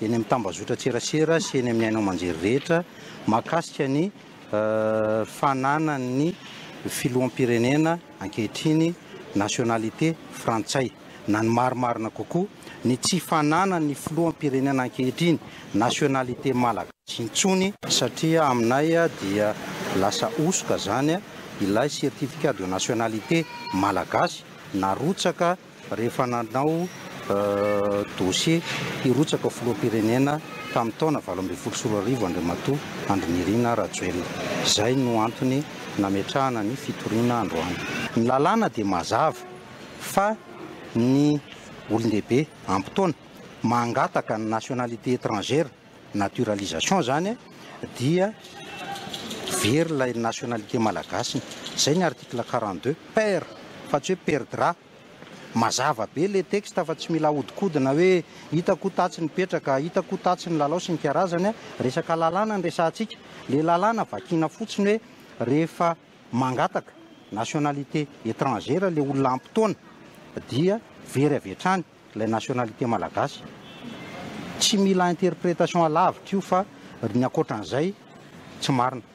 eny amin'ny tambazotran-tserasera sy eny amin'ny haino aman-jery rehetra mahakasika ny fananan'ny filoham-pirenena ankehitriny nationalité frantsay na ny marimarina kokoa ny tsy fananan'ny filoham-pirenena ankehitriny nationalité malagasy intsony satria aminay dia lasa hosoka izany ilay certificat de nationalité malagasy narotsaka Rehefa nanao dossier hirotsaka ho filoham-pirenena tamin'ny taona valo ambin'ny folo sy roa arivo Andriamatoa Andry Nirina Rajoelina. Izay no antony nametrahana ny fitoriana androany. Ny lalàna dia mazava fa ny olon-dehibe ampy taona mangataka ny nationalité étrangère naturalisation izany dia very ilay nationalité malagasiny. Izay ny article quarante deux, perd fa tsy hoe perdra. Mazava be ilay texte fa tsy mila ahodikodina hoe hita koa tatsy ny petraka, hita koa tatsy ny lalao sy ny karazany. Resaka lalàna no resahantsika. Ilay lalàna vakiana fotsiny hoe rehefa mangataka nationalité étrangère ilay olona ampy taona dia very avy hatrany. Ilay nationalité malagasy tsy mila interprétation alavitra io fa ry ny ankoatran'izay tsy marina.